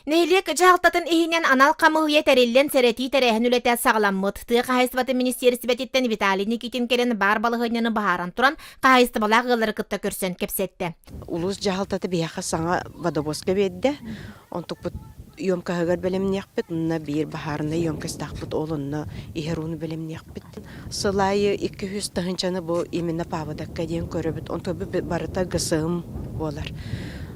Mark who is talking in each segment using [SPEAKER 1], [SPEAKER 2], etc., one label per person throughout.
[SPEAKER 1] Нэһилиэк дьаһалтатын иһинэн анал хамыыһыйа тэриллэн сэрэтии тэрээһин үлэтэ саҕаламмыт. Тыа хаһайыстыбатын министиэристибэтиттэн Виталий Никитин кэлэн баар балаһыанньаны быһааран туран, хаһайыстыбалаах ыаллары кытта көрсөн кэпсэттэ. Улуус дьаһалтата
[SPEAKER 2] биһиэхэ саҥа водовозка биэрдэ. Онтукпут емкаһыгар бэлэмниэхпит, онно биир баһаарынай емкостаахпыт ол онно иһэр ууну бэлэмниэхпит. Сыл аайы икки үс тыһыынчаны бу именно паабадакка диэн көрөбүт. Онтубу барыта ГСМ буолар.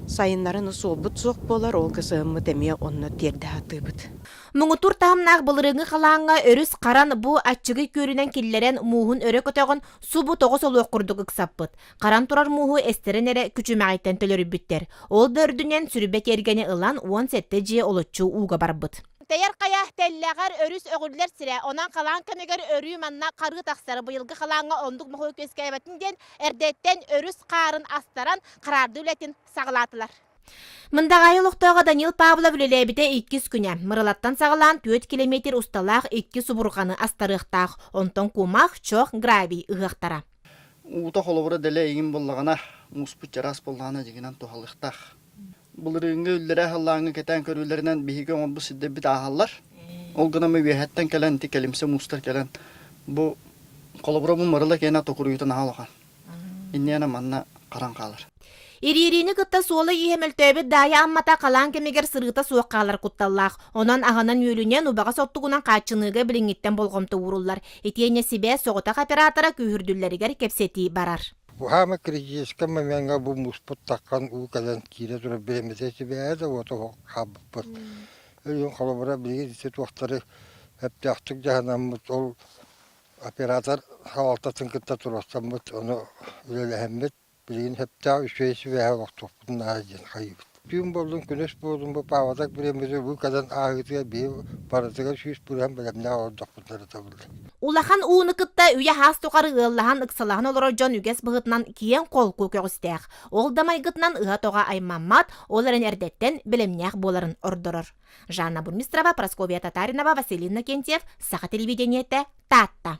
[SPEAKER 2] Сайыннарын суолбут суох буолар, ол ГСМ-мыт эмиэ онно тиэрдэ сатыыбыт. Муҥутуур
[SPEAKER 1] таһымнаах былырыыҥҥы халааҥҥа өрүс харан бу аччыгый күөрүнэн киллэрэн мууһун өрө көтөҕөн субу тоҕо солуох курдук ыксаппыт. Харан турар мууһу эстэрин эрэ күчүмэҕиттэн төлөрүппүттэр. Ол да үрдүнэн сүрүбэ тиэргэни ылан уон сэттэ дьиэ олоччу ууга барбыт. Тэйэр хайа тэллэҕэр өрүс өҕүллэр сирэ, онон халаан кэмигэр өрүү манна харыы тахсар. Быйылгы халааҥҥа оннук моһуок үөскээбэтин диэн эрдэттэн өрүс хаарын астаран, хараарды үлэтин саҕалаатылар. Мындаҕайы олохтооҕо Данил Павлов үлэлээбитэ иккис күнэ. Мырылаттан саҕалаан түөрт километр усталаах иккис убурҕаны астарыахтаах. Онтон кумах, чох, гравий ыһыахтара. Уута
[SPEAKER 3] холобура дэлэ игин буллагана мууспут чараас боллаана дигинан туһалыктаах. Былырыыҥҥы үллэрэ-аһыллааҥҥы кэтээн көрүүлэринэн биһиги оҥорбут сирдэрбит ааһаллар. Ол гынан мы үөһэттэн кэлэн ити кэлимсэ муустар кэлэн бу холобура бу мырыла киэнэ токуруйутан аһа улахан. Инниэнэ манна харан хаалар. Ириэриини кытта
[SPEAKER 1] суола ииһэ мөлтөөбүт даайа аммата халаан кэмигэр сырыыта суох хаалар кутталлаах. Онон аҕанан үөлүнэн убаҕа соттугунан хааччыныыга билиҥҥиттэн болҕомто ууруллар. Итиэннэ сибээс соҕотох оператора күүһүрдүллэригэр кэпсэтии барар. Уһаама кризискэ
[SPEAKER 4] момеҥҥа бу мууспут таххан уу кэлэн киирэ турар бириэмэтэ сибээһэ да уота хаалбыппыт. Өйүн холобура билигин ити туохтары эптээхтик дьаһанаммыт, ол оператор салалтатын кытта туруорсаммыт, ону үлэлэһэммит, билигин сөптөөх үчүгэй сибээһи олохтуохпут наада диэн хайыыбыт. Түүн буоллун, күнүс буоллун бу паавалар бириэмэбитэ уу кэлэн ааһыытыгар биһи барытыгар сүүс бырыһан бэлэмнээх олордохпут ырытабыллар. Улахан ууну
[SPEAKER 1] кытта үйэ аас тухары ыаллаһан ыксалаһан олорор дьон үгэс быһыытынан киэҥ холку көҕүстээх. Ол да майгытынан ыһа-тоҕо аймаммат, ол эрэн эрдэттэн бэлэмнээх буоларын ордорор. Жанна Бурмистрова, Прасковья Татаринова, Василин Накентьев, Саха телевидениете, Таатта.